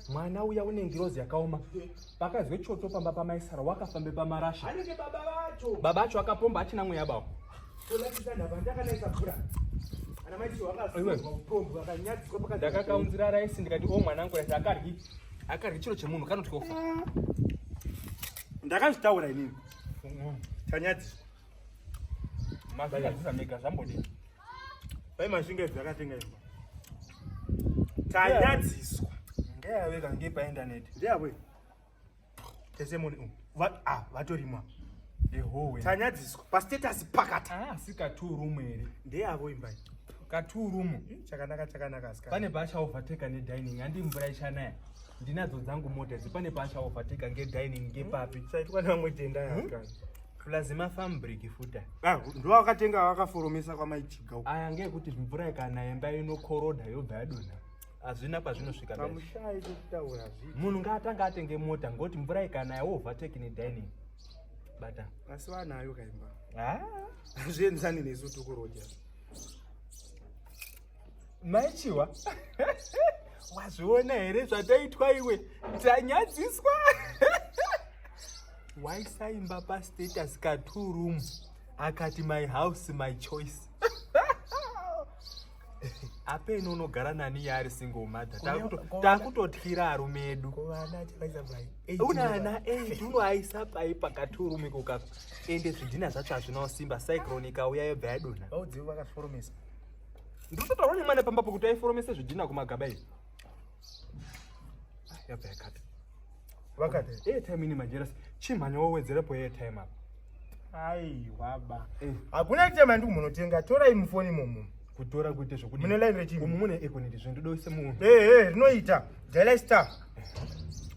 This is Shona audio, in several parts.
mwana uya une ngirozi yakaoma pakazwe choto pamba pamaisara wakafambe pamarasha baba vacho akapomba achina mweya bavo ndakakaunzira raisi ndikati o mwana angu raisi akaryi akaryi chiro chemunhu kanotyofa ndakazvitaura inini tanyadziswa mazvigadzisa mega zvambodii pai mashinga idzi akatenga imba tanyadziswa ndeyave kange paindaneti ndeyavo tesemoni um, ah, vatorimwa tanyadziswa pastatus pakati asi ah, katurumu here ndeyavo imba katurumu hmm, chakanaka chakanaka ska pane paasha overtake nedining handi mvura ichanaya ndinadzo dzangu mota idzi pane paasha overtake ngedining ngepapi hmm, chaitwa nevamwe tenda yaka hmm? plus mafarm brick futa ah, ndo wakatenga wakaforomesa kwamaichiga aya ngekuti mvura ikanaya imba inokoroda yobva yadonha hazvina pazvinosvika munhu ngaatanga atenge mota ngokuti mvura ikanaya wovateki nedining bata asi vanayo kaimba hazvienzani nesu tukuroja Mai Chiwa, wazviona here zvataitwa iwe? Tanyadziswa. Waisaimba pa status ka two room akati my house my choice. apeno unogara nani yaari single mother takutotyira arume edu unaana 8 unoaisa pai pakati urume kokako ende zvidhina zvacho hazvinawo simba cyclone ikauya yobva yadonha Ndikutotaura nemwana pamba pokuti aiforomese zvidhina kumagaba izvi. Ah, yabva yakati. Vakati air time ini majerasi chimhanya wowedzerepo air time apa. Aiwa ba. Eh. Hakuna time andiri munotenga torai mufoni imomo. Kutora kuite zvokudi. Mune line rechii? Umu mune ekoneti zve ndoda use munhu. Eh hey, eh hey, rinoita. Daily star. Eh.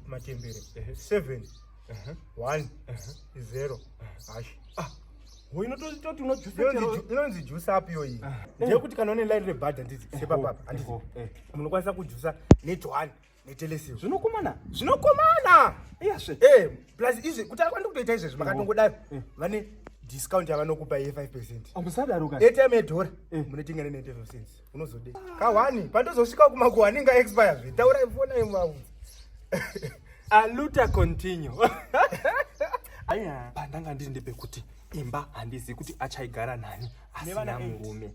Matembere. Eh. Seven. Uh -huh. One. Uh -huh. Zero. Uh -huh. Hash. Ah. inonzi jusa api yoyi ah. ndeyekuti kana une laini rebhadha ndizi oh, sepapapa oh, andizi oh, eh. munokwanisa kujusa netwan netelesio zvinokomana zvinokomana iyazve eh, plus izvi kuti akwandi kutoita izvezvi makatongodaro eh. vane discount yavanokupa ye 5 percent amusadaro ka etime yedhora munotenga ne 95 cents unozode kahwani pandozosvika kumakuhwani nga expire zve taura ifona yemaudzi aluta continue aya pandanga ndiri ndepekuti imba handizivi kuti achaigara nani asina murume